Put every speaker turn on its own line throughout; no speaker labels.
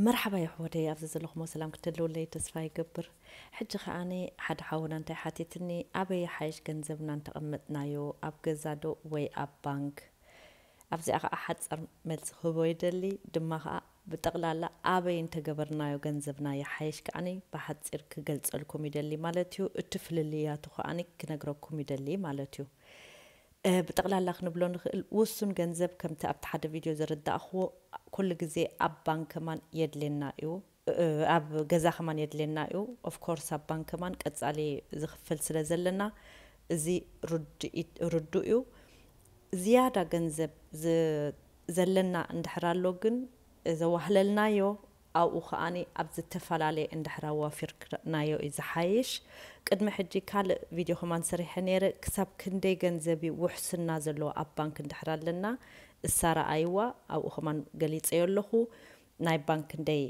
መርሓባ የሕዎተይ ኣብዚ ዘለኹሞ ሰላም ክትህልውለይ ተስፋ ይገብር ሕጂ ከኣ ሓደ ሓውና እንታይ ሓቲትኒ ኣበይ ይሓይሽ ገንዘብና እንተቀመጥናዮ ኣብ ገዛ ዶ ወይ ኣብ ባንክ ኣብዚኣ ከኣ ሓጸር መልሲ ክህቦ ይደሊ ድማ ከኣ ብጠቅላላ ኣበይ እንተገበርናዮ ገንዘብና ይሓይሽ ከኣ ብሓጺር ክገልጸልኩም ይደሊ ማለትዩ እቲ ፍልልያቱ ከኣ ክነግረኩም ይደሊ ማለትዩ እ ብጠቕላላ ክንብሎ ንኽእል ውሱን ገንዘብ ከምቲ ኣብቲ ሓደ ቪድዮ ዘረዳእኽዎ ኩሉ ግዜ ኣብ ባንክ ከማን የድሌና እዩ እ ኣብ ገዛ ከማን የድሌና እዩ of course ኣብ ባንክ ከማን ቀጻሊ ዝኽፈል ስለ ዘለና እዚ ርድኢት ርዱእ እዩ ዝያዳ ገንዘብ ዝ ዘለና እንድሕር ኣሎ ግን ዘዋህለልናዮ ኣብኡ ከኣ ኣብ ዝተፈላለየ እንድሕር ኣዋፊርክ ረእናዮ እዩ ዝሓይሽ ቅድሚ ሕጂ ካልእ ቪድዮ ከማን ሰሪሐ ነይረ ክሳብ ክንደይ ገንዘብ እዩ ውሕስና ዘለዎ ኣብ ባንክ እንድሕር ኣለና እሳ ረኣይዋ ኣብኡ ከማን ገሊጸዮ ኣለኩ ናይ ባንክ ክንደይ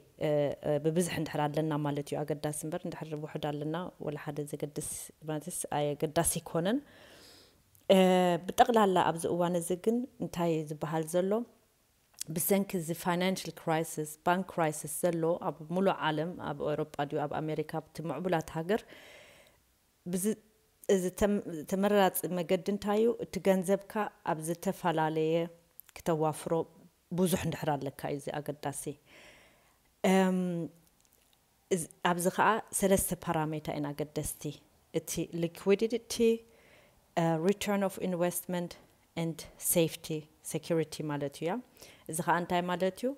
ብብዝሒ እንድሕር ኣለና ማለት እዩ ኣገዳሲ እምበር እንድሕር ውሑድ ኣለና ወላ ሓደ ዘገድስ ማለትስ ኣየገዳሲ ኣይኮነን ብጠቅላላ ኣብዚ እዋን እዚ ግን እንታይ እዩ ዝበሃል ዘሎ ብሰንኪ እዚ ፋይናንሽል ክራይስስ፣ ባንክ ክራይስስ፣ ዘሎ ኣብ ሙሉእ ዓለም ኣብ ኤውሮጳ ድዩ ኣብ ኣሜሪካ ኣብቲ ሙዕቡላት ሃገር ብዝ እዚ ተመራጺ መገዲ እንታይ እዩ እቲ ገንዘብካ ኣብ ዝተፋላለየ ክተዋፍሮ ቡዙሕ እንድሕር ኣለካ እዩ እዚ ኣገዳሲ እም ኣብዚ ከኣ ሰለስተ ፓራሜታ እየን ኣገደስቲ፣ እቲ ሊኩዊዲድቲ፣ ሪተርን ኦፍ ኢንቨስትመንት and ሴፍቲ፣ ሰኩሪቲ፣ ማለት እዩ እያ። እዚ ከኣ እንታይ ማለት እዩ፣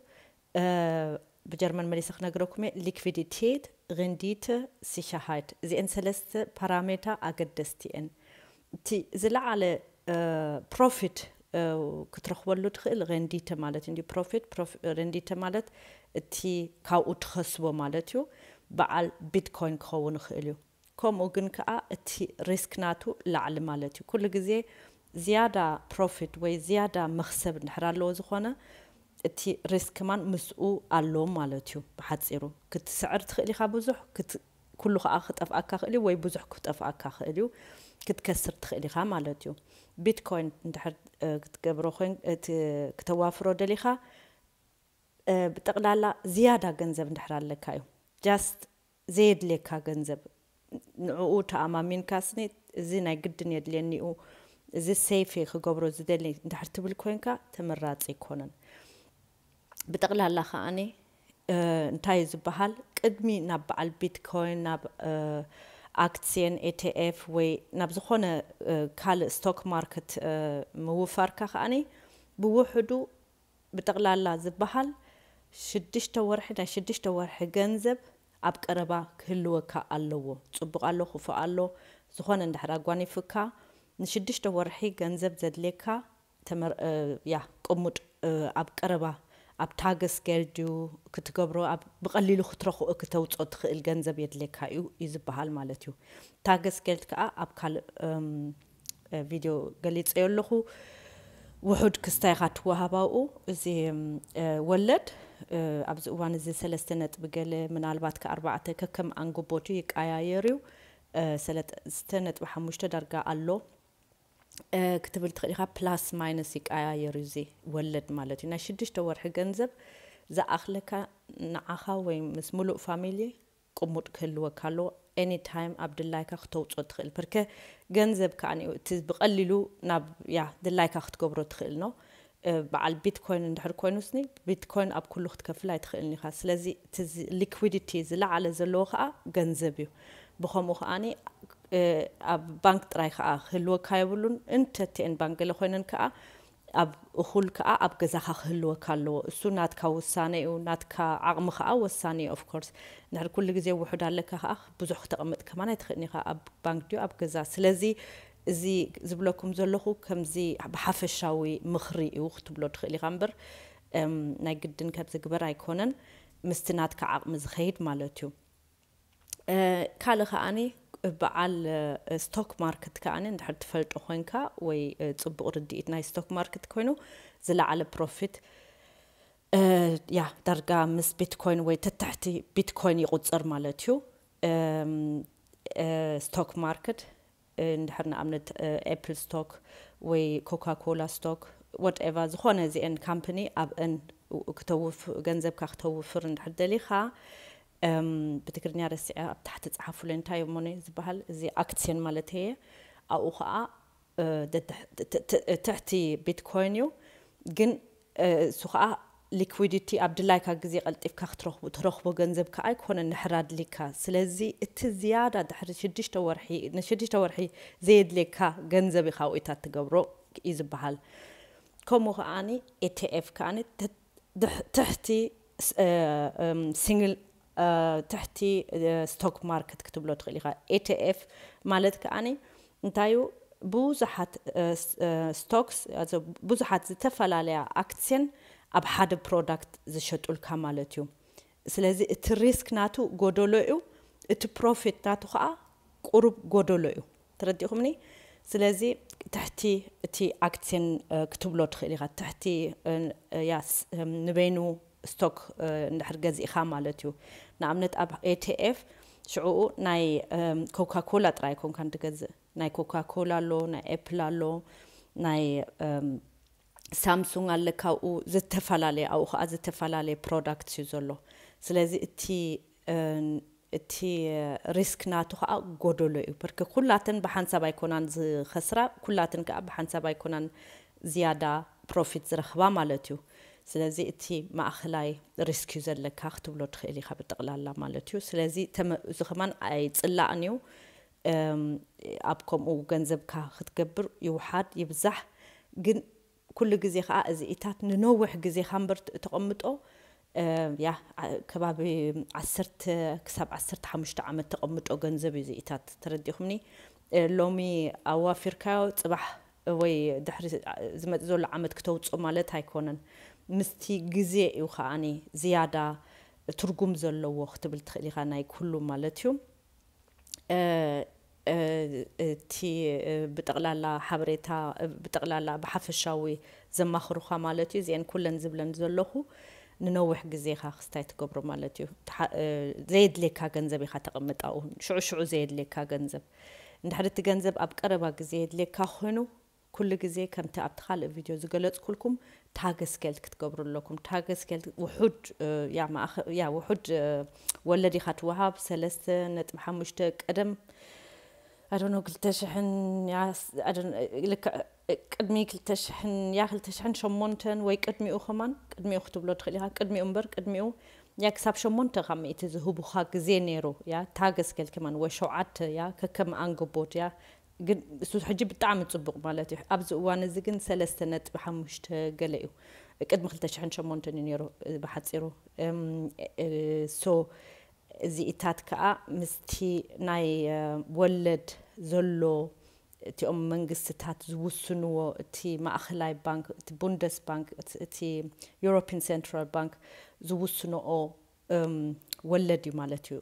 ብጀርመን መሊሰ ክነግረኩም እየ፣ ሊኩዊዲቴት፣ ሪንዲተ፣ ሲከሃይት፣ እዚኤን ሰለስተ ፓራሜታ ኣገደስቲ እየን። እቲ ዝለዓለ ፕሮፊት ክትረኽበሉ ትኽእል ረንዲተ ማለት እንድዩ ፕሮፊት ፕሮፊት ረንዲተ ማለት እቲ ካብኡ ትኸስቦ ማለት እዩ በዓል ቢትኮይን ክኸውን ይኽእል እዩ ከምኡ ግን ከኣ እቲ ሪስክ ናቱ ላዕሊ ማለት እዩ ኩሉ ግዜ ዝያዳ ፕሮፊት ወይ ዝያዳ መኽሰብ እንድሕር ኣለዎ ዝኾነ እቲ ሪስክ ከማን ምስኡ ኣሎ ማለት እዩ ብሓጺሩ ክትስዕር ትኽእል ኢኻ ብዙሕ ኩሉ ከኣ ክጠፍኣካ ይኽእል እዩ ወይ ብዙሕ ክጠፍኣካ ይኽእል እዩ ክትከስር ትኽእል ኢኻ ማለት እዩ ቢትኮይን እንድሕር ክትገብሮ ኮይን ክተዋፍሮ ደሊኻ ብጠቕላላ ዝያዳ ገንዘብ እንድሕር ኣለካ እዩ ጃስት ዘየድልየካ ገንዘብ ንዕኡ ተኣማሚንካ ስኒ እዚ ናይ ግድን የድልየኒ እዩ እዚ ሰይፍ ክገብሮ ዝደሊ እንድሕር ትብል ኮይንካ ተመራጺ ኣይኮነን ብጠቕላላ ከኣ እንታይ እዩ ዝበሃል ቅድሚ ናብ በዓል ቢትኮይን ናብ ኣክትስየን ETF ወይ ናብ ዝኾነ ካልእ ስቶክ ማርክት ምውፋርካ ከኣ ብውሕዱ ብጠቕላላ ዝበሃል ሽዱሽተ ወርሒ ናይ ሽዱሽተ ወርሒ ገንዘብ ኣብ ቀረባ ክህልወካ ኣለዎ ጽቡቕ ኣሎ ክፉእ ኣሎ ዝኾነ እንድሕር ኣጓኒፉካ ንሽዱሽተ ወርሒ ገንዘብ ዘድልየካ ተመር እያ ቅሙጥ ኣብ ቀረባ ኣብ ታግስ ገል ድዩ ክትገብሮ ኣብ ብቀሊሉ ክትረክኦ ክተውጾ ትክእል ገንዘብ የድሌካ እዩ እዩ ዝባሃል ማለት እዩ ታግስ ገልት ከኣ ኣብ ካልእ ቪድዮ ገሊጸዮ ኣለኩ ውሑድ ክስታይ ኢካ ትዋሃብ ኣብኡ እዚ ወለድ ኣብዚ እዋን እዚ ሰለስተ ነጥቢ ገለ ምናልባት ከ ኣርባዕተ ከከም ኣንግቦቱ ይቃያየር እዩ ሰለስተ ነጥቢ ሓሙሽተ ዳርጋ ኣሎ ክትብል ትኽእል ኢኻ ፕላስ ማይነስ ይቀያየር እዩ እዚ ወለድ ማለት እዩ ናይ ሽዱሽተ ወርሒ ገንዘብ ዝኣኽለካ ንዓኻ ወይ ምስ ምሉእ ፋሚሊ ቅሙጥ ክህልወካ ኣለዎ ኤኒ ታይም ኣብ ድላይካ ክተውፅኦ ትኽእል ፐርከ ገንዘብ ከዓኒ እቲ ብቐሊሉ ናብ ያ ድላይካ ክትገብሮ ትኽእል ነው በዓል ቢትኮይን እንድሕር ኮይኑስኒ ቢትኮይን ኣብ ኩሉ ክትከፍል ኣይትኽእልን ኢኻ ስለዚ እቲ ሊኩዊዲቲ ዝለዓለ ዘለዎ ከኣ ገንዘብ እዩ ብኸምኡ ከኣ ኣብ ባንክ ጥራይ ከኣ ክህልወካ የብሉን እንተትኤን ባንክ ገለ ኮይነን ከኣ ኣብ እኹል ከኣ ኣብ ገዛኻ ክህልወካ ኣለዎ እሱ ናትካ ውሳነ እዩ ናትካ ዓቕሚ ከኣ ወሳኒ እዩ ኦፍኮርስ እንድሕር ኩሉ ግዜ ውሑድ ኣለካ ከኣ ብዙሕ ክተቕምጥ ከማን ኣይትኽእልን ኢኻ ኣብ ባንክ ድዩ ኣብ ገዛ ስለዚ እዚ ዝብለኩም ዘለኹ ከምዚ ብሓፈሻዊ ምኽሪ እዩ ክትብሎ ትኽእል ኢኻ እምበር ናይ ግድን ካብ ዝግበር ኣይኮነን ምስቲ ናትካ ዓቕሚ ዝኸይድ ማለት እዩ። ካልእ ከኣኒ በዓል ስቶክ ማርክት ከኣኒ እንድሕር ትፈልጦ ኮይንካ ወይ ጽቡቕ ርድኢት ናይ ስቶክ ማርክት ኮይኑ ዝለዓለ ፕሮፊት ያ ዳርጋ ምስ ቢትኮይን ወይ ተታሕቲ ቢትኮይን ይቑጽር ማለት እዩ ስቶክ ማርክት እንድሕር ንኣብነት ኤፕል ስቶክ ወይ ኮካ ኮላ ስቶክ ዋት ኤቫ ዝኾነ እዚኤን ካምፕኒ ኣብእን ክተውፍ ገንዘብካ ክተውፍር እንድሕር ደሊኻ ብትግርኛ ረሲዐ ኣብ ታሕቲ ጸሓፉለይ እንታይ እሞ ነይ ዝበሃል እዚ ኣክትስዮን ማለት እየ ኣብኡ ከዓ ትሕቲ ቢትኮይን እዩ ግን እሱ ከኣ ሊኩዊዲቲ ኣብ ድላይካ ግዜ ቀልጢፍካ ክትረኽቡ ትረኽቦ ገንዘብ ከኣ ኣይኮነን ድሕር ኣድሊካ ስለዚ እቲ ዝያዳ ድሕሪ ሽዱሽተ ወርሒ ንሽዱሽተ ወርሒ ዘየድልየካ ገንዘብ ኢኻ ዊእታ ትገብሮ እዩ ዝበሃል ከምኡ ከኣ ኤቴኤፍ ከኣ ትሕቲ ሲንግል ትሕቲ ስቶክ ማርክት ክትብሎ ትኽእል ኢኻ። ETF ማለት ከኣ እንታይ እዩ? ብዙሓት ስቶክስ፣ ብዙሓት ዝተፈላለያ ኣክስየን ኣብ ሓደ ፕሮዳክት ዝሸጡልካ ማለት እዩ። ስለዚ እቲ ሪስክ ናቱ ጎደሎ እዩ፣ እቲ ፕሮፊት ናቱ ከኣ ቁሩብ ጎደሎ እዩ። ተረዲእኹምኒ ስለዚ ትሕቲ እቲ ኣክትስን ክትብሎ ትኽእል ኢኻ ትሕቲ ንበይኑ ስቶክ እንድሕር ገዚእኻ ማለት እዩ ንኣብነት ኣብ ኤቲኤፍ ሽዑኡ ናይ ኮካ ኮላ ጥራይ ኣይኮንካን ትገዝእ ናይ ኮካ ኮላ ኣሎ ናይ ኤፕል ኣሎ ናይ ሳምሱንግ ኣለካ ኣብኡ ዝተፈላለየ ኣብኡ ከዓ ዝተፈላለየ ፕሮዳክት እዩ ዘሎ ስለዚ እቲ እቲ ሪስክ ናቱ ከኣ ጎደሎ እዩ ብርክ ኩላተን ብሓንሳብ ኣይኮናን ዝከስራ ኩላትን ከኣ ብሓንሳብ ኣይኮናን ዝያዳ ፕሮፊት ዝረክባ ማለት እዩ ስለዚ እቲ ማእከላይ ሪስክ እዩ ዘለካ ክትብሎ ትክእል ኢካ ብጥቅላላ ማለት እዩ ስለዚ እዚ ከማን ኣይጽላእን እዩ ኣብ ከምኡ ገንዘብካ ክትገብር ይውሓድ ይብዛሕ ግን ኩሉ ግዜ ከኣ እዚኢታት ንነውሕ ግዜ ካምበር ተቐምጦ ያ ከባቢ ዓሰርተ ክሳብ ዓሰርተ ሓሙሽተ ዓመት ተቐምጦ ገንዘብ እዩ እዚኢታት ተረዲኹምኒ ሎሚ ኣዋፊርካዮ ጽባሕ ወይ ድሕሪ ዝመጽእ ዘሎ ዓመት ክተውጽኦ ማለት ኣይኮነን ምስቲ ግዜ እዩ ከኣ ዝያዳ ትርጉም ዘለዎ ክትብል ትኽእል ኢኻ ናይ ኩሉ ማለት እዩ እቲ ብጠቕላላ ሓበሬታ ብጠቕላላ ብሓፈሻዊ ዘማኽሩኻ ማለት እዩ እዚኤን ኩለን ዝብለን ዘለኹ ንነዊሕ ግዜ ኢኻ ክስታይ ትገብሮ ማለት እዩ ዘየድልየካ ገንዘብ ኢኻ ተቐምጥ ኣብኡ ሽዑ ሽዑ ዘየድልየካ ገንዘብ እንድሕሪ እቲ ገንዘብ ኣብ ቀረባ ግዜ የድልየካ ኮይኑ ኩሉ ግዜ ከምቲ ኣብቲ ካልእ ቪድዮ ዝገለጽኩልኩም ታገስጌልት ክትገብሩ ኣለኩም ታገስጌልት ውሑድ ያ ማእኸ ያ ውሑድ ወለድ ኢኻ ትወሃብ ሰለስተ ነጥቢ ሓሙሽተ ቀደም ኣዶኖ ክልተ ሽሕን ያ ልክዕ ቅድሚ ክልተ ሽሕን ያ ክልተ ሽሕን ሸሞንተን ወይ ቅድሚኡ ከማን ቅድሚኡ ክትብሎ ትኽእል ኢኻ ቅድሚኡ እምበር ቅድሚኡ ያ ክሳብ ሸሞንተ ካብ ሚእቲ ዝህቡኻ ግዜ ነይሩ ያ ታገስጌልት ከማን ወይ ሸውዓተ ያ ከከም ኣንግቦት ያ ግን እሱ ሕጂ ብጣዕሚ ጽቡቕ ማለት እዩ ኣብዚ እዋን እዚ ግን ሰለስተ ነጥቢ ሓሙሽተ ገለ እዩ ቅድሚ ክልተ ሽሕን ሸሞንተን እዩ ነይሩ ብሓጺሩ ሶ እዚ እታት ከኣ ምስቲ ናይ ወለድ ዘሎ እቲኦም መንግስትታት ዝውስንዎ እቲ ማእኸላይ ባንክ እቲ ቡንደስ ባንክ እቲ ዩሮፒን ሴንትራል ባንክ ዝውስንኦ ወለድ እዩ ማለት እዩ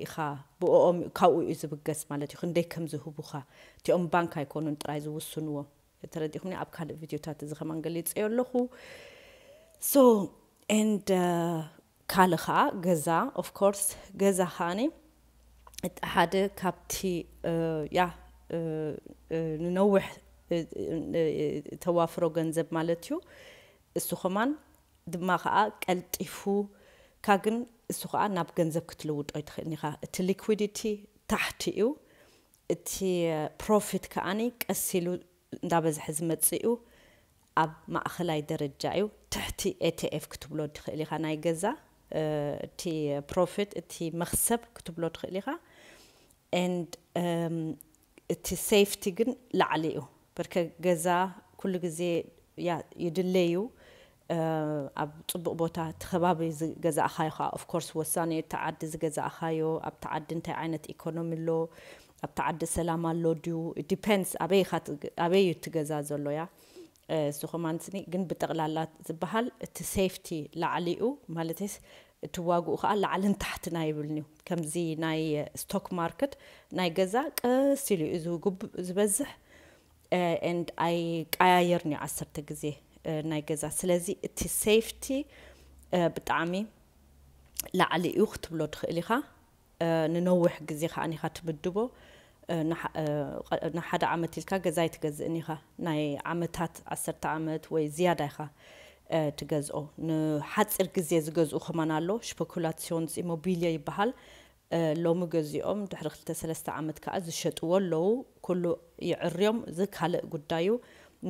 ኢኻ ብእኦም እዩ ካብኡ እዩ ዝብገስ ማለት እዩ ክንደይ ከም ዝህቡኻ እቲኦም ባንክ ኣይኮኑን ጥራይ ዝውስንዎ ተረዲኹምኒ ኣብ ካልእ ቪድዮታት እዚ ከማን ገሊጸዮ ኣለኹ ሶ ኤንድ ካልእ ከዓ ገዛ ኦፍ ኮርስ ገዛ ከዓኒ እቲ ሓደ ካብቲ ያ ንነውሕ ተዋፍሮ ገንዘብ ማለት እዩ እሱ ከማን ድማ ከኣ ቀልጢፉ እካ ግን እሱ ከኣ ናብ ገንዘብ ክትልውጦ ኣይትክእልን ኢካ እቲ ሊኩዲቲ ታሕቲ እዩ እቲ ፕሮፊት ከኣ ቀስ ኢሉ እንዳበዝሐ ዝመጽእ እዩ ኣብ ማእከላይ ደረጃ እዩ ትሕቲ ኤትኤፍ ክትብሎ ትክእል ኢካ ናይ ገዛ እቲ ፕሮፊት እቲ መክሰብ ክትብሎ ትክእል ኢካ and እቲ ሴፍቲ ግን ላዕሊ እዩ ብርከ ገዛ ኩሉ ግዜ ያ ይድለ እዩ ኣብ ጽቡቅ ቦታ እቲ ከባቢ ዝገዛእኻዮ ከኣ of course ወሳኒ እዩ እቲ ዓዲ ዝገዛእኻዮ ኣብቲ ዓዲ እንታይ ዓይነት ኢኮኖሚ ኣሎ ኣብቲ ዓዲ ሰላም ኣሎ ድዩ it depends ኣበይ ኢኻ ኣበይ እዩ እቲ ገዛ ዘሎ ያ እዚ ኮማንድስኒ ግን ብጠቕላላ ዝበሃል እቲ ሴፍቲ ላዕሊ'ዩ ማለተይስ እቲ ዋግኡ ከኣ ላዕልን ታሕትን ኣይብልን'ዩ ከምዚ ናይ ስቶክ ማርክት ናይ ገዛ ቀስ ኢሉ እዩ ዝጉብእ ዝበዝሕ and ኣይቀያየርን'ዩ ዓሰርተ ግዜ ናይ ገዛ ስለዚ እቲ ሴፍቲ ብጣዕሚ ላዕሊ'ዩ ክትብሎ ትኽእል ኢኻ። ንነውሕ ግዜ ከኣ ኢካ ትምድቦ ንሓደ ዓመት ኢልካ ገዛ ኣይትገዝእን ኢካ ናይ ዓመታት ዓሰርተ ዓመት ወይ ዝያዳ ኢካ ትገዝኦ ንሓጺር ግዜ ዝገዝኡ ከማን ኣሎ ሽፐኩላትስዮንስኢሞቢልየ ይበሃል ሎሚ ገዚኦም ድሕሪ ክልተ ሰለስተ ዓመት ከኣ ዝሸጥዎ ኣለዉ ኩሉ ይዕርዮም እዚ ካልእ ጉዳይ እዩ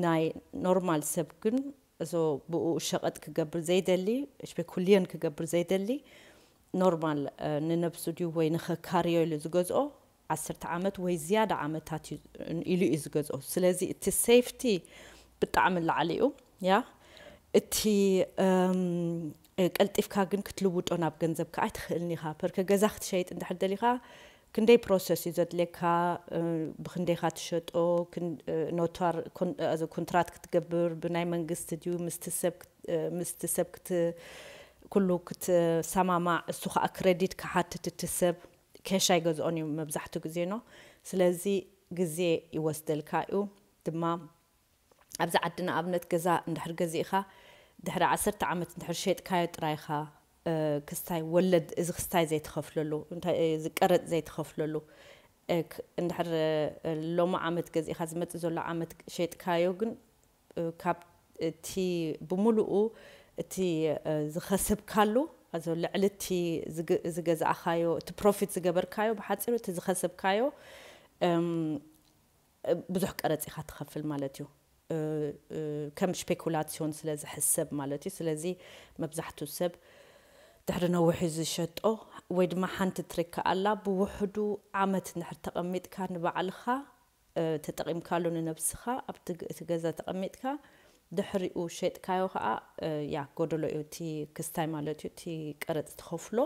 ናይ ኖርማል ሰብ ግን እዞ ብኡ ሸቐጥ ክገብር ዘይደሊ፣ ሽፔኩልዮን ክገብር ዘይደሊ፣ ኖርማል ንነብሱ ድዩ ወይ ንኸካርዮ ኢሉ ዝገዝኦ ዓሰርተ ዓመት ወይ ዝያዳ ዓመታት እዩ ኢሉ እዩ ዝገዝኦ። ስለዚ እቲ ሴፍቲ ብጣዕሚ ላዕሊ እዩ። ያ እቲ ቀልጢፍካ ግን ክትልውጦ ናብ ገንዘብ ከኣ ኣይትኽእልን ኢኻ። ፐርከ ገዛ ክትሸይጥ እንድሕር ደሊኻ ክንደይ ፕሮሰስ እዩ ዘድልየካ ብክንደይካ ትሸጦ ኖቷር ኩንትራት ክትገብር ብናይ መንግስቲ ድዩ ምስቲ ሰብ ኩሉ ክትሰማማዕ እሱ ካኣ ክረዲት ክሓትት እቲ ሰብ ኬሽ ኣይገዝኦን እዩ መብዛሕቱ ግዜ ኖ ስለዚ ግዜ ይወስደልካ እዩ ድማ ኣብዚ ዓዲ ንኣብነት ገዛ እንድሕር ገዚእኻ ድሕሪ ዓሰርተ ዓመት እንድሕር ሼጥካዮ ጥራይ ኢኻ ክስታይ ወለድ እዚ ክስታይ ዘይትኸፍለሉ እንታይ እዚ ቀረጽ ዘይትኸፍለሉ እክ እንድሕር ሎሚ ዓመት ገዚእኻ ዝመጽእ ዘሎ ዓመት ሼጥካዮ ግን ካብ እቲ ብምሉኡ እቲ ዝኸሰብካሉ ኣዞ ልዕሊ እቲ ዝገዛእኻዮ እቲ ፕሮፊት ዝገበርካዮ ብሓጺሩ እቲ ዝኸሰብካዮ ብዙሕ ቀረጽ ኢኻ ትኸፍል ማለት እዩ፣ ከም ሽፔኩላትስዮን ስለ ዝሕሰብ ማለት እዩ። ስለዚ መብዛሕትኡ ሰብ ድሕሪ ነዊሕ እዩ ዝሸጦ፣ ወይ ድማ ሓንቲ ትሪክ ከኣ ኣላ፣ ብውሕዱ ዓመት እንድሕር ተቐሚጥካ ንባዕልኻ ተጠቒምካሉ ንነብስኻ ኣብቲ እቲ ገዛ ተቐሚጥካ ድሕሪኡ ሼጥካዮ ከኣ ያ ጎደሎ እዩ እቲ ክስታይ ማለት እዩ እቲ ቀረጽ ትኸፍሎ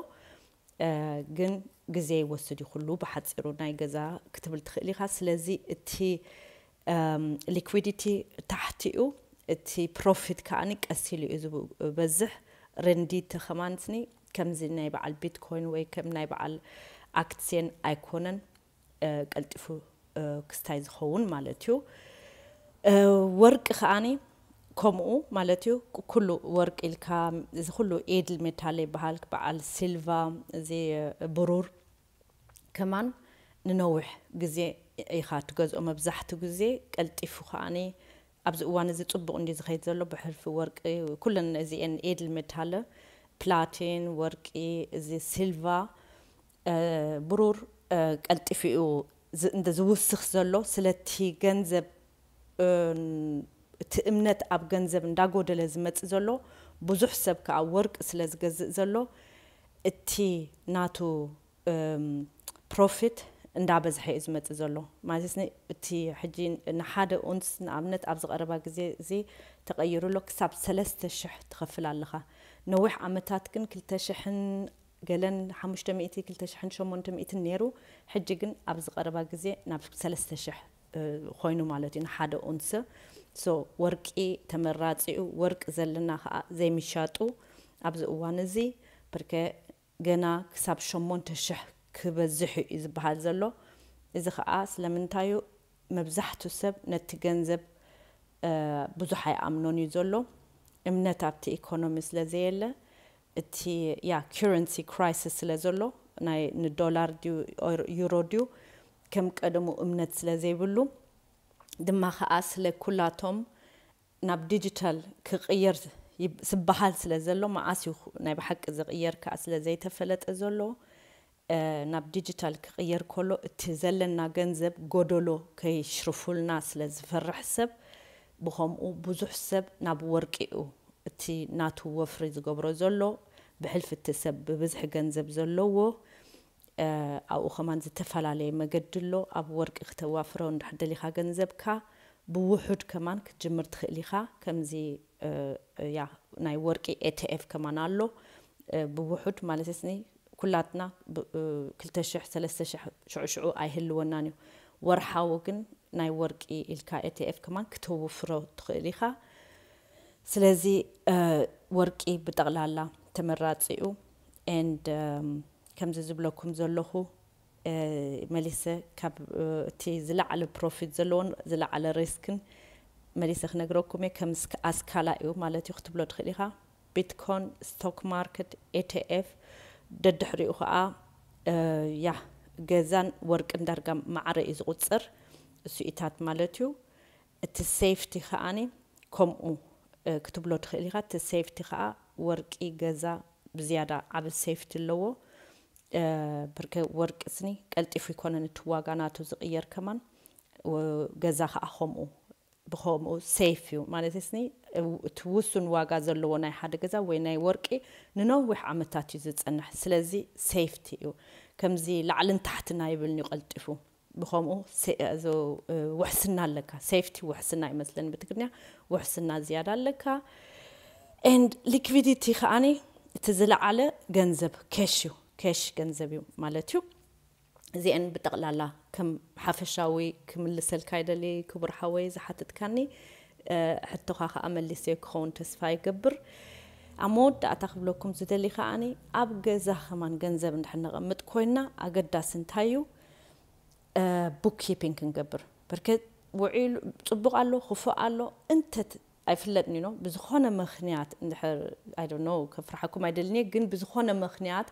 ግን ግዜ ይወስድ እዩ ኩሉ ብሓጺሩ ናይ ገዛ ክትብል ትኽእል ኢኻ ስለዚ እቲ ሊኩዲቲ ታሕቲ እዩ እቲ ፕሮፊት ከኣኒ ቀስ ኢሉ እዩ ዝበዝሕ ረንዲቲ ከማንስኒ ከምዚ ናይ በዓል ቢትኮይን ወይ ከም ናይ በዓል ኣክትስየን ኣይኮነን ቀልጢፉ ክስታይ ዝኸውን ማለት እዩ። ወርቂ ከኣ ከምኡ ማለት እዩ። ኩሉ ወርቂ ኢልካ እዚ ኩሉ ኤድል ሜታለ ይበሃል በዓል ሲልቫ እዚ ብሩር ከማን ንነዊሕ ግዜ ኢኻ ትገዝኦ መብዛሕቱ ግዜ ቀልጢፉ ከኣ ኣብዚ እዋን እዚ ጽቡቕ እንድዩ ዝኸይድ ዘሎ ብሕልፊ ወርቂ ኩለን እዚኤን ኤድል ሜታለ ፕላቲን ወርቂ እዚ ሲልቫ ብሩር ቀልጢፉ እዩ ዝውስኽ ዘሎ ስለቲ ገንዘብ እቲ እምነት ኣብ ገንዘብ እንዳጎደለ ዝመጽእ ዘሎ ብዙሕ ሰብ ከኣ ወርቂ ስለ ዝገዝእ ዘሎ እቲ ናቱ ፕሮፊት እንዳበዝሐ እዩ ዝመጽእ ዘሎ ማለት እቲ ሕጂ ንሓደ ኡንስ ንኣብነት ኣብዚ ቀረባ ግዜ እዚ ተቀይሩ ኣሎ ክሳብ ሰለስተ ሽሕ ትኸፍል ኣለኻ ነዊሕ ዓመታት ግን ክልተ ሽሕን ገለን ሓሙሽተ ሚእቲ ክልተ ሽሕን ሸሞንተ ሚእትን ነይሩ ሕጂ ግን ኣብዚ ቀረባ ግዜ ናብ ሰለስተ ሽሕ ኮይኑ ማለት እዩ ንሓደ ኡንሰ so ወርቂ ተመራጺ እዩ ወርቂ ዘለና ከኣ ዘይምሻጡ ኣብዚ እዋን እዚ ብርከ ገና ክሳብ ሸሞንተ ሽሕ ክበዝሕ እዩ ዝብሃል ዘሎ እዚ ከኣ ስለምንታይ እዩ መብዛሕቱ ሰብ ነቲ ገንዘብ ብዙሕ ኣይኣምኖን እዩ ዘሎ እምነት ኣብቲ ኢኮኖሚ ስለ ዘየለ እቲ ያ ኪረንሲ ክራይስስ ስለ ዘሎ ናይ ንዶላር ድዩ ዩሮ ድዩ ከም ቀደሙ እምነት ስለ ዘይብሉ ድማ ከኣ ስለ ኩላቶም ናብ ዲጂታል ክቅየር ዝብሃል ስለ ዘሎ መኣስ እዩ ናይ ብሓቂ ዝቅየር ከኣ ስለ ዘይተፈለጠ ዘሎ ናብ ዲጂታል ክቕየር ከሎ እቲ ዘለና ገንዘብ ጎደሎ ከይሽርፉልና ስለ ዝፈርሕ ሰብ ብኸምኡ ብዙሕ ሰብ ናብ ወርቂ'ዩ እቲ ናቱ ወፍሪ ዝገብሮ ዘሎ ብሕልፊ እቲ ሰብ ብብዝሒ ገንዘብ ዘለዎ ኣብኡ ከማን ዝተፈላለየ መገዲ ኣሎ ኣብ ወርቂ ክተዋፍሮ እንድሕር ደሊኻ ገንዘብካ ብውሑድ ከማን ክትጅምር ትኽእል ኢኻ ከምዚ ያ ናይ ወርቂ ኤትኤፍ ከማን ኣሎ ብውሑድ ማለትኒ ኩላትና ክልተ ሽሕ ሰለስተ ሽሕ ሽዑ ሽዑ ኣይህልወናን እዩ ወርሓዊ ግን ናይ ወርቂ ኢልካ ኤትኤፍ ከማን ክተውፍሮ ትኽእል ኢኻ ስለዚ ወርቂ ብጠቕላላ ተመራጺ እዩ and ከምዚ ዝብለኩም ዘለኹ መሊሰ ካብ እቲ ዝለዓለ ፕሮፊት ዘለዎን ዝለዓለ ሪስክን መሊሰ ክነግረኩም እየ ከም ኣስካላ እዩ ማለት እዩ ክትብሎ ትኽእል ኢኻ ቢትኮን ስቶክ ማርኬት ኤትኤፍ ደድሕሪኡ ከኣ ያህ ገዛን ወርቅን ዳርጋ ማዕረ እዩ ዝቁጽር እሱኢታት ማለት እዩ እቲ ሴፍቲ ከኣ ከምኡ ክትብሎ ትክእል ኢካ እቲ ሴፍቲ ከኣ ወርቂ ገዛ ብዝያዳ ዓቢ ሴፍቲ ኣለዎ ብርከ ወርቂ ስኒ ቀልጢፉ ኣይኮነን እቲ ዋጋ ናቱ ዝቅየር ከማን ገዛ ከኣ ከምኡ ብኸምኡ ሴፍ እዩ ማለተይስኒ እቲ ውሱን ዋጋ ዘለዎ ናይ ሓደ ገዛ ወይ ናይ ወርቂ ንነዊሕ ዓመታት እዩ ዝጸንሕ ስለዚ ሴፍቲ እዩ ከምዚ ላዕልን ታሕትን ኣይብልን እዩ ቀልጢፉ ብኸምኡ ውሕስና ኣለካ ሴፍቲ ውሕስና ይመስለኒ ብትግርኛ ውሕስና ዝያዳ ኣለካ ኤንድ ሊክቪዲቲ ከዓኒ እቲ ዝለዓለ ገንዘብ ኬሽ እዩ ኬሽ ገንዘብ እዩ ማለት እዩ እዚኤን ብጠቅላላ ከም ሓፈሻዊ ክምልሰልካ ይደሊ ክቡር ሓወይ ዝሓትትካኒ ሕቶኻ ከኣ መሊሰዮ ክኸውን ተስፋ ይገብር ኣብ መወዳእታ ክብለኩም ዝደሊ ከኣ ኣብ ገዛ ከማን ገንዘብ እንድሕር ነቐምጥ ኮይና ኣገዳሲ እንታይ እዩ ቡክ ኪፒንግ ክንገብር በርከ ውዒሉ ጽቡቕ ኣሎ ክፉእ ኣሎ እንተ ኣይፍለጥን ዩኖ ብዝኾነ ምኽንያት እንድሕር ኣይ ዶንት ኖው ከፍርሓኩም ኣይደልን እየ ግን ብዝኾነ ምኽንያት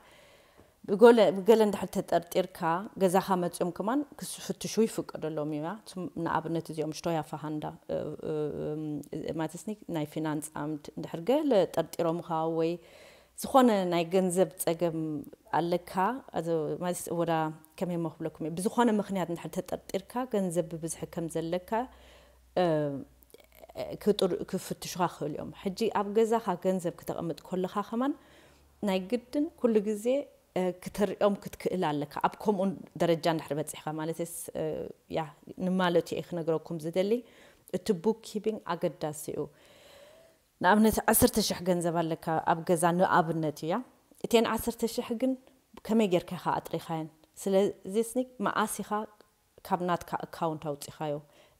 ብጎለ ብገለ እንድሕር ተጠርጢርካ ገዛኻ መጽዮም ከማን ክፍትሹ ይፍቀደሎም እዩ ንኣብነት እዚኦም ሽቶያ ፋሃንዳ ማለትስኒ ናይ ፊናንስ ኣምድ እንድሕር ገለ ጠርጢሮምኻ ወይ ዝኾነ ናይ ገንዘብ ጸገም ኣለካ ማለት ወዳ ከመይ ሞ ክብለኩም እየ ብዝኾነ ምኽንያት እንድሕር ተጠርጢርካ ገንዘብ ብብዝሒ ከም ዘለካ ክፍትሹኻ ክኽእሉ እዮም። ሕጂ ኣብ ገዛኻ ገንዘብ ክተቕምጥ ኮለኻ ከማን ናይ ግድን ኩሉ ግዜ ክተርእዮም ክትክእል ኣለካ ኣብ ከምኡ ደረጃ እንድሕር በጺሕካ ማለትስ ያ ንማለቱ እየ ክነግረኩም ዝደሊ እቲ ቡክ ኪቢንግ ኣገዳሲ እዩ ንኣብነት ዓሰርተ ሽሕ ገንዘብ ኣለካ ኣብ ገዛ ንኣብነት እያ እተን ዓሰርተ ሽሕ ግን ከመይ ጌርካ ኢኻ ኣጥሪኻየን ስለዚስኒ መኣስ ኢኻ ካብ ናትካ እካውንት ኣውጺኻዮ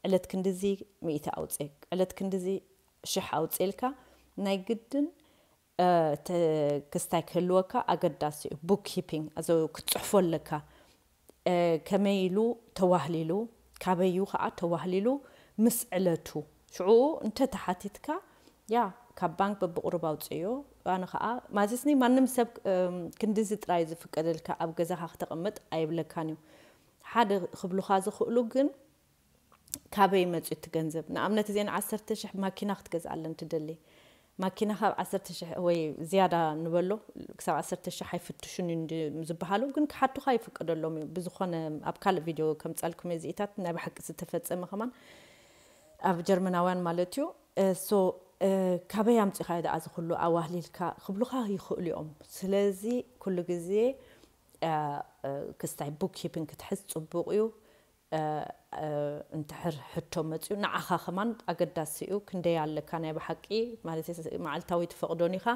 ዕለት ክንድዚ ሚእቲ ኣውጽ ዕለት ክንድዚ ሽሕ ኣውጽ ኢልካ ናይ ግድን እቲ ክስታይ ክህልወካ ኣገዳሲ እዩ ቡክ ኪፒንግ ኣዞ ክትጽሕፎ ኣለካ ከመይ ኢሉ ተዋህሊሉ ካበይ እዩ ከኣ ተዋህሊሉ ምስ ዕለቱ ሽዑ እንተ ተሓቲትካ ያ ካብ ባንክ በብቑሩብ ኣውጽእዮ ኣነ ከኣ ማዘስኒ ማንም ሰብ ክንድዚ ጥራይ ዝፍቀደልካ ኣብ ገዛኻ ክተቐምጥ ኣይብለካን እዩ ሓደ ክብሉኻ ዝኽእሉ ግን ካበይ መጽዩ እቲ ገንዘብ ንኣብነት እዚኤን ዓሰርተ ሽሕ ማኪና ክትገዝኣለን ትደሊ ማኪና ካብ ዓሰርተ ሽሕ ወይ ዝያዳ ንበሎ ክሳብ ዓሰርተ ሽሕ ኣይፍትሹን እዩ እንድ ዝብሃሉ ግን ክሓቱኻ ይፍቀደሎም እዩ ብዝኾነ ኣብ ካልእ ቪድዮ ከምጻልኩም እየ እዚኢታት ናይ ብሓቂ ዝተፈጸመ ከማን ኣብ ጀርመናውያን ማለት እዩ ሶ ካበይ ኣምጺኻዮ ደኣ እዚ ኩሉ ኣዋህሊልካ ክብሉኻ ይኽእሉ እዮም ስለዚ ኩሉ ግዜ ክስታይ ቡክ ኪፒንግ ክትሕዝ ጽቡቅ እዩ እንድሕር ሕቶ መጽዩ ንዓካ ከማን ኣገዳሲ እዩ ክንደይ ኣለካ ናይ ብሓቂ ማለተይ መዓልታዊ ትፈቅዶን ኢካ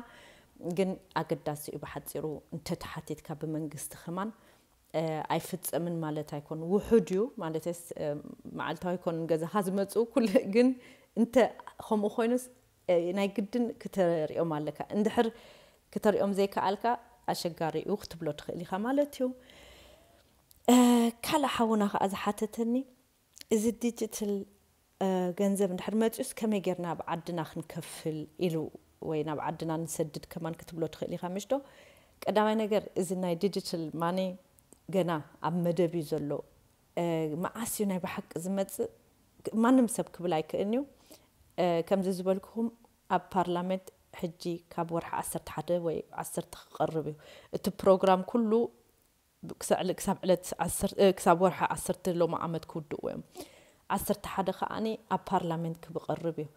ግን ኣገዳሲ እዩ ብሓጺሩ እንተ ተሓቲትካ ብመንግስቲ ከማን ኣይፍጸምን ማለት ኣይኮን ውሑድ እዩ ማለተይስ መዓልታዊ ኣይኮን ገዛካ ዝመጹ ኩሉ ግን እንተ ከምኡ ኮይኑስ ናይ ግድን ክተሪኦም ኣለካ እንድሕር ክተሪኦም ዘይከኣልካ ኣሸጋሪ እዩ ክትብሎ ትክእል ኢካ ማለት እዩ ካልእ ሓውና ከኣ ዝሓተተኒ እዚ ዲጂትል ገንዘብ እንድሕር መጺኡስ ከመይ ጌርና ኣብ ዓድና ክንከፍል ኢሉ ወይ ናብ ዓድና ንሰድድ ከማን ክትብሎ ትክእል ኢካ ምሽዶ ቀዳማይ ነገር እዚ ናይ ዲጂትል ማኒ ገና ኣብ መደብ እዩ ዘሎ መዓስ እዩ ናይ ብሓቂ ዝመጽእ ማንም ሰብ ክብል ኣይክእልን እዩ ከምዚ ዝበልኩኹም ኣብ ፓርላመንት ሕጂ ካብ ወርሒ ዓሰርተ ሓደ ወይ ዓሰርተ ክቐርብ እዩ እቲ ፕሮግራም ኩሉ ክሳብ ዕለት ክሳብ ወርሒ ዓሰርተ ሎሚ ዓመት ክውድእዎ እዮም ዓሰርተ ሓደ ከዓኒ ኣብ ፓርላመንት ክብቐርብ እዩ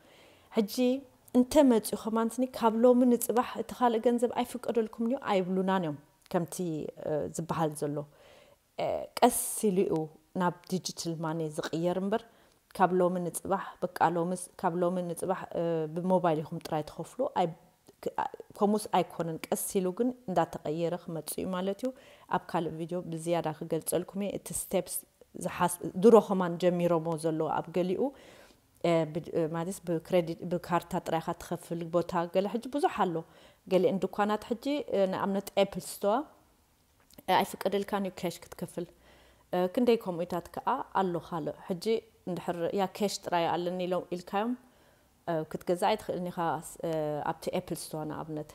ሕጂ እንተ መጽኡ ከማንስኒ ካብ ሎሚ ንጽባሕ እቲ ካልእ ገንዘብ ኣይፍቀደልኩምን እዩ ኣይብሉናን እዮም ከምቲ ዝበሃል ዘሎ ቀስ ኢሉ'ዩ ናብ ዲጂትል ማኒ ዝቕየር እምበር ካብ ሎሚ ንጽባሕ በቃ ሎምስ ካብ ሎሚ ንጽባሕ ብሞባይል ኢኹም ጥራይ ትኸፍሉ ከምኡስ ኣይኮነን ቀስ ኢሉ ግን እንዳተቐየረ ክመጽእ'ዩ ማለት'ዩ ኣብ ካልእ ቪድዮ ብዝያዳ ክገልጸልኩም'የ እቲ ስቴፕስ ድሮ ከማን ጀሚሮሞ ዘለዉ ኣብ ገሊኡ ማለት ብክሬዲት ብካርታ ጥራይ ኢኻ ትኸፍል ቦታ ገለ ሕጂ ብዙሕ ኣሎ ገሊኤን ድኳናት ሕጂ ንኣብነት ኤፕል ስቶር ኣይፍቀደልካን እዩ ኬሽ ክትከፍል ክንደይ ከምኡታት ከኣ ኣሎ ካልእ ሕጂ እንድሕር ያ ኬሽ ጥራይ ኣለኒ ኢሎም ኢልካዮም ክትገዛ ኣይትኽእልን ኢኻ ኣብቲ ኤፕል ስቶር ንኣብነት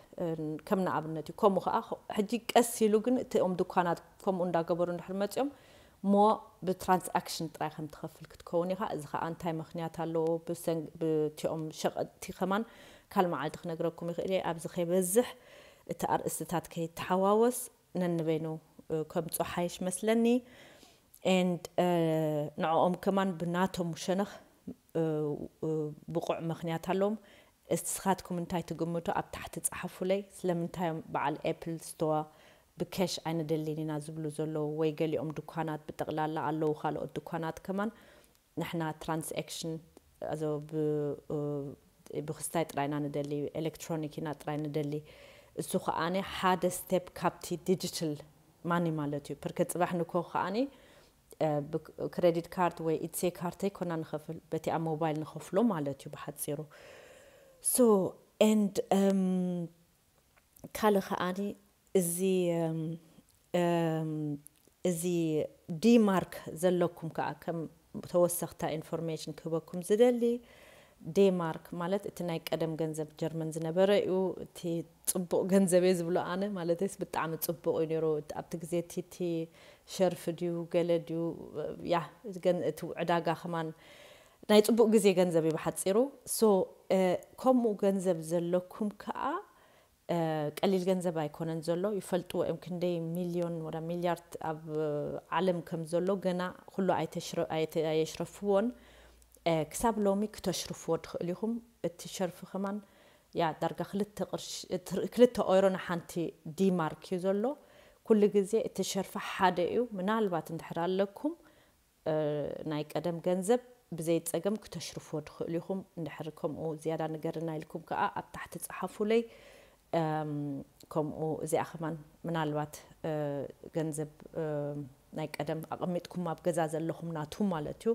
ከም ንኣብነት እዩ ከምኡ ከዓ ሕጂ ቀስ ኢሉ ግን እቲኦም ድኳናት ከምኡ እንዳገበሩ እንድሕር መፅኦም እሞ ብትራንስኣክሽን ጥራይ ከም ትኸፍል ክትከውን ኢኻ፣ እዚ ኸኣ እንታይ ምኽንያት ኣለዎ ብቲኦም ሸቀጥቲ ከማን ካል መዓልቲ ክነግረኩም ይኽእል እየ ኣብዚ ከይበዝሕ እቲ ኣርእስትታት ከይተሓዋወስ ነንበይኑ ከምጾ ሓይሽ መስለኒ and ንዕኦም ከማን ብናቶም ሸነኽ ብቑዕ ምኽንያት ኣለዎም እስኻትኩም እንታይ ትግምቱ ኣብ ታሕቲ ጸሓፉለይ ስለምንታይ እዮም በዓል apple store ብከሽ ኣይንደሊን ኢና ዝብሉ ዘለዉ ወይ ገሊኦም ድኳናት ብጠቅላላ ኣለዉ ካልኦት ድኳናት ከማን ንሕና ትራንስኣክሽን ኣዞ ብክስታይ ጥራይ ኢና ንደሊ ኤለክትሮኒክ ኢና ጥራይ ንደሊ እሱ ከኣ ሓደ ስተፕ ካብቲ ዲጅትል ማኒ ማለት እዩ ፐርከ ጽባሕ ንኮ ከኣ ብክረዲት ካርድ ወይ ኢትሴ ካርድ ተይኮና ንከፍል በቲ ኣብ ሞባይል ንከፍሎ ማለት እዩ ብሓጺሩ ሶ ኤንድ ካልእ ከኣኒ እዚ እዚ ዲማርክ ዘለኩም ከኣ ከም ተወሰክታ ኢንፎርሜሽን ክህበኩም ዝደሊ ዴማርክ ማለት እቲ ናይ ቀደም ገንዘብ ጀርመን ዝነበረ እዩ እቲ ፅቡቅ ገንዘብ እየ ዝብሎ ኣነ ማለተይስ ብጣዕሚ ፅቡቅ እዩ ነይሩ ኣብቲ ግዜ እቲ እቲ ሸርፊ ድዩ ገለ ድዩ ያ እቲ ዕዳጋ ከማን ናይ ጽቡቅ ግዜ ገንዘብ እዩ ብሓጺሩ so ከምኡ ገንዘብ ዘለኩም ከኣ ቀሊል ገንዘብ ኣይኮነን ዘሎ ይፈልጥዎ እዮም ክንደይ ሚልዮን ወላ ሚልያርት ኣብ ዓለም ከም ዘሎ ገና ኩሉ ኣየሽረፍዎን ክሳብ ሎሚ ክተሽርፍዎ ትክእሉ ኢኩም እቲ ሸርፊ ከማን ያ ዳርጋ ክልተ ቅርሺ ክልተ ኦይሮ ንሓንቲ ዲማርክ እዩ ዘሎ ኩሉ ግዜ እቲ ሸርፊ ሓደ እዩ ምናልባት እንድሕር ኣለኩም ናይ ቀደም ገንዘብ ብዘይ ጸገም ክተሽርፍዎ ትኽእሉ ኢኹም እንድሕር ከምኡ ዝያዳ ንገርና ኢልኩም ከኣ ኣብ ታሕቲ ጸሓፉለይ ከምኡ እዚኣ ከማን ምናልባት ገንዘብ ናይ ቀደም ኣቐሚጥኩም ኣብ ገዛ ዘለኹም ናቱ ማለት እዩ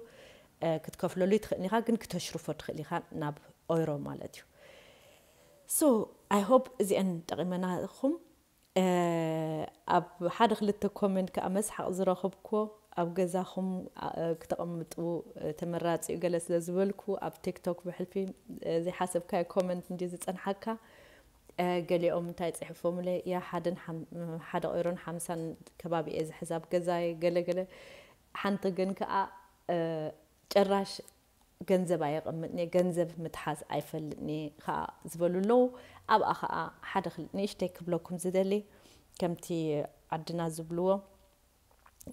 ክትከፍለሉ ይትኽእል ኢኻ ግን ክተሽርፎ ትኽእል ኢኻ ናብ ኦይሮ ማለት እዩ ሶ ኣይ ሆፕ እዚኤን ጠቒመናኹም ኣብ ሓደ ክልተ ኮመንት ከኣ መስሓቕ ዝረኽብኩዎ ኣብ ገዛኹም ክተቐምጡ ተመራጺ ዩ ገለ ስለ ዝበልኩ ኣብ ቲክቶክ ብሕልፊ ዘይሓሰብካዮ ኮመንት እንድዩ ዝጸንሓካ ገሊኦም እንታይ ጽሕፎምለይ ያ ሓደን ሓደ ቁይሮን ሓምሳን ከባቢ እየ ዝሕዝ ኣብ ገዛየ ገለ ገለ ሓንቲ ግን ከኣ ጭራሽ ገንዘብ ኣየቐምጥን'የ፣ ገንዘብ ምትሓዝ ኣይፈልጥን'የ ከኣ ዝበሉ ኣለዉ። ኣብኣ ከኣ ሓደ ክል ንእሽተይ ክብለኩም ዝደሊ ከምቲ ዓድና ዝብልዎ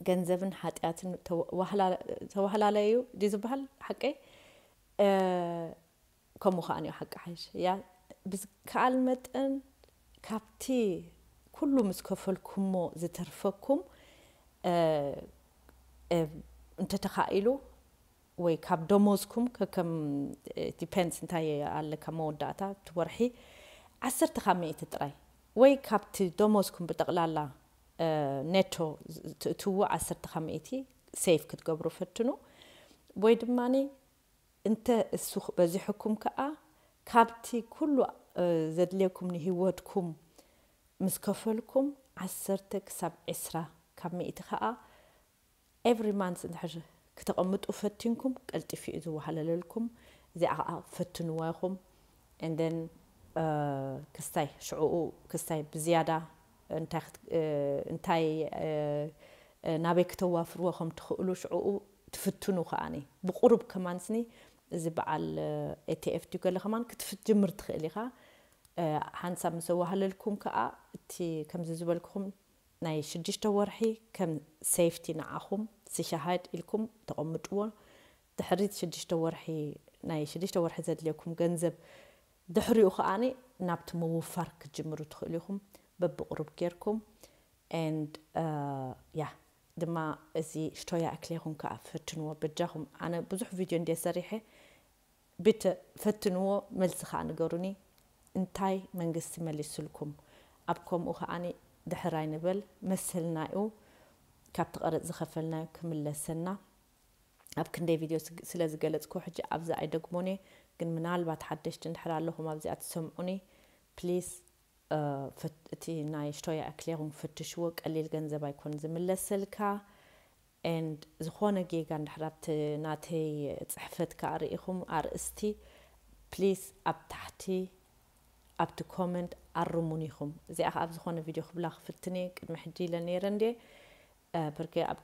ገንዘብን ሓጢኣትን ተዋህላላይ እዩ ድዩ ዝበሃል ሓቀይ ከምኡ ከኣ እዩ ሓቂ ሓይሽ እያ ብዝከኣል መጠን ካብቲ ኩሉ ምስ ከፈልኩሞ ዝተርፈኩም እንተተኻኢሉ ወይ ካብ ደሞዝኩም ከከም ዲፐንድስ እንታይ ኣለካ መወዳእታ ኣብቲ ወርሒ ዓሰርተ ካብ ሚእቲ ጥራይ ወይ ካብቲ ደሞዝኩም ብጠቕላላ ኔቶ ትእትውዎ ዓሰርተ ካብ ሚእቲ ሴቭ ክትገብሩ ፈትኑ ወይ ድማ እንተ እሱ በዚሑኩም ከኣ ካብቲ ኩሉ ዘድልየኩም ንሂወትኩም ምስ ከፈልኩም ዓሰርተ ክሳብ ዕስራ ካብ ሚእቲ ከኣ Every month እንድሕር ክተቐምጡ ፈቲንኩም ቀልጢፉ እዩ ዝወሃለለልኩም እዚኣ ከኣ ፈትንዋ ኢኹም and then ክስታይ ሽዑኡ ክስታይ ብዝያዳ እንታይ ናበይ ክተዋፍርዎ ከም ትኽእሉ ሽዑኡ ትፍትኑ ከኣ ብቑሩብ ከማንስኒ እዚ በዓል ATF ድዩ ገለ ከማን ክትፍትጅምር ትኽእል ኢኻ ሓንሳብ ምስ ኣወሃለልኩም ከኣ እቲ ከምዚ ዝበልኩኹም ናይ ሽዱሽተ ወርሒ ከም ሴፍቲ ንዓኹም ስሸሃድ ኢልኩም ተቐምጥዎ ድሕሪት ሽዱሽተ ወርሒ ናይ ሽዱሽተ ወርሒ ዘድልየኩም ገንዘብ ድሕሪኡ ከኣ ናብቲ ምውፋር ክትጅምሩ ትኽእሉ ኢኹም በብቕሩብ ጌርኩም and yeah ድማ እዚ ሽቶያ እክሌኹም ከኣ ፈትንዎ በጃኹም ኣነ ብዙሕ ቪድዮ እንድየ ሰሪሐ ብተ ፈትንዎ መልሲ ከኣ ንገሩኒ እንታይ መንግስቲ መሊስልኩም ኣብ ከምኡ ከኣ ድሕር ኣይንበል መሰልናዩ ካብቲ ቀረጽ ዝከፈልናዮ ክምለሰና ኣብ ክንደይ ቪድዮ ስለ ዝገለጽክዎ ሕጂ ኣብዚ ኣይደግሞንየ ግን ምናልባት ሓደሽቲ እንድሕር ኣለኹም ኣብዚኣ ትሰምዑኒ please እቲ ናይ Steuererklärung ፈትሽዎ ቀሊል ገንዘብ ኣይኮን ዝምለሰልካ and ዝኾነ ጌጋ እንድሕር ኣብቲ ናተይ ጽሕፈት ከኣ ርኢኹም ኣርእስቲ please ኣብ ታሕቲ ኣብቲ comment ኣርሙኒ ኢኹም እዚኣ ከኣ ኣብ ዝኾነ ቪድዮ ክብላ ክፍትን እየ ቅድሚ ሕጂ ኢለ ኔረ እንድየ ፐርከ ኣብ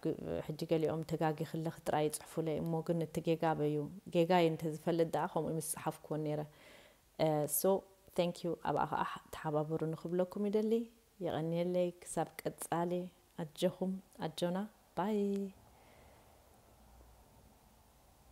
ሕጂ ገሊኦም ተጋጊ ክለኺ ጥራይ ይጽሕፉለይ እሞ ግን እቲ ጌጋ ኣበይ እዩ ጌጋይ እንተ ዝፈልጥ ደኣ ከምኡ ምስጸሓፍክወን ኔረ so thank you ኣብኣ ከኣ ተሓባበሩኒ ክብለኩም ይደሊ የቐንየለይ ክሳብ ቀጻሊ። ኣጀኹም ኣጆና ባይ።